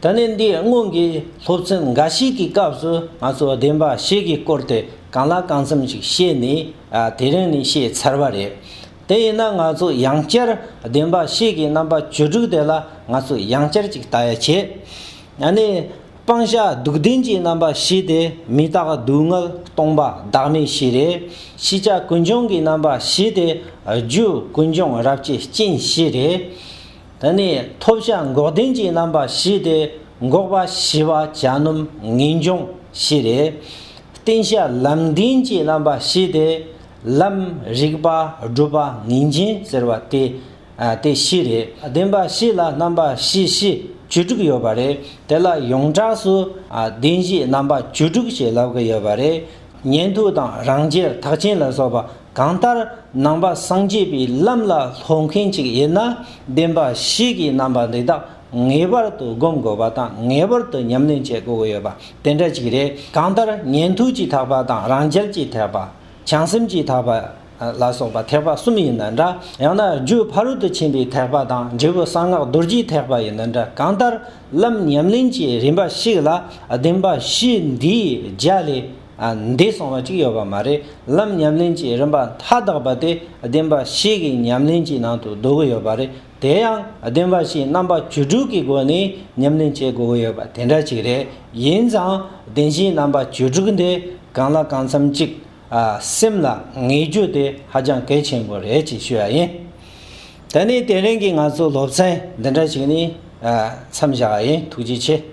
ད་ནི་འདིའི་སྔོན་གྱི་སློབ་ཚན་འགའ་ཞིག་གི་སྐབས་སུ་ང་ཚོས་བདེན་པ་ཞིག་གི་སྐོར་དེ་གང་ལ་གང་འཚམ་ཞིག་བཤད་ནས་དེ་རིང་ནས་བཤད་ཚར་བ་རེད། དེ་ཡིན་ན་ང་ཚོས་ཡང་བསྐྱར་བདེན་པ་ཞིག་གི་རྣམ་པ་བཅུ་དྲུག་དེ་ལ་ང་ཚོས་ཡང་བསྐྱར་ཅིག་ལྟ་ཡ་བྱེད། ད་ནི་སྤང་བྱ་སྡུག་བདེན་གྱི་རྣམ་པ་བཞི་དེ་མི་རྟག་སྡུག་བསྔལ་སྟོང་པ་བདག་མེད་བཞི་རེད། ཤེས་བྱ་ཀུན་འབྱུང་གི་རྣམ་པ་བཞི་དེ་རྒྱུ་ཀུན་འབྱུང་རབ་བྱེད་རྐྱེན་བཞི་རེད། དེ་ནས་ཐོབ་བྱ་འགོག་བདེན་གྱི་རྣམ་པ་བཞི་སྟེ་འགོག་པ་བྱི་བ་བྱ་སྣུམ་ངེས་འབྱུང་བཞི་རེད། བསྟེན་བྱ་ལམ་བདེན་གྱི་རྣམ་པ་བཞི་སྟེ། ལམ། རིགས་པ། སྒྲུབ་པ་ངེས་འབྱིན་ཟེར་བ་སྟེ། དེ་བཞི་རེད། བདེན་པ་བཞི་ལ་རྣམ་པ་བཞི་བཞི་བཅུ་དྲུག་ཡོད་པ་རེད། དེ་ལ་ཡོངས་གྲགས་སུ། བདེན་བཞིའི་རྣམ་པ་བཅུ་དྲུག་ཅེས་ལབ་ཀྱི་ཡོད་པ་རེད། ཉན་ཐོས་དང་རང་རྒྱལ་དག་ཅན་ལ་སོགས་པ་གང་ལྟར་ནང་པ་སངས་རྒྱས་པའི་ལམ་ལ་སློབ་མཁན་ཅིག་ཡིན་ན་བདེན་པ་གཤིས་ཀྱི་རྣམ་པ་འདི་དག་ངེས་པར་དུ་སྒོམ་དགོས་པ་དང་ངེས་པར་དུ་ཉམས་ལེན་བྱེད་དགོས་ཡོད་པ་དེ་འདྲ་ཅིག་རེད་གང་ལྟར་ཉན་ཐོས་ཀྱིས་དག་པ་དང་རང་རྒྱལ་གྱིས་དག་པ་བྱང་སེམས་ཀྱིས་དག་པ། ལ་སོགས་པ་ཐེག་པ་གསུམ་ཡིན་ན་འདྲ། ཡང་ན་རྒྱུད་ཕ་རོལ་ཏུ་ཕྱིན་པའི་ཐེག་པ་དང་འབྲས་བུ་གསང་སྔགས་རྡོ་རྗེའི་ཐེག་པ་ཡིན་ན་འདྲ་གང་ལྟར། ལམ་ཉམས་ལེན་གྱི་རིམ་པ་ཞིག་ལ་བདེན་པ་བཞི་འདིའི་རྒྱ་ལས་འདས་སོང་བ་ཅིག་ཡོད་པ་མ་རེད། ལམ་ཉམས་ལེན་གྱི་རིམ་པ་མཐའ་དག་པ་དེ་བདེན་པ་བཞི་གི་ཉམས་ལེན་གྱི་ནང་དུ་བསྡུ་གི་ཡོད་པ་རེད། དེ་ཡང་བདེན་པ་བཞིའི་རྣམ་པ་བཅུ་དྲུག་གི་སྒོ་ནས་ཉམས་ལེན་བྱེད་དགོས་ཀྱི་ཡོད་པ་དེ་འདྲ་ཅིག་རེད། ཡིན་ཙང་བདེན་བཞིའི་རྣམ་པ་བཅུ་དྲུག་འདི་གང་ལ་གང་འཚམ་གཅིག་སེམས་ལ་ངེས་རྒྱུ་དེ་ཧ་ཅང་གལ་ཆེན་པོ་རེད་ཅེས་ཞུ་བ་ཡིན། ད་ནི་དེ་རིང་གི་ང་ཚོའི་སློབ་ཚན་འདི་འདྲ་ཞིག་ནི་མཚམས་བཞག་པ་ཡིན་ཐུགས་རྗེ་ཆེ།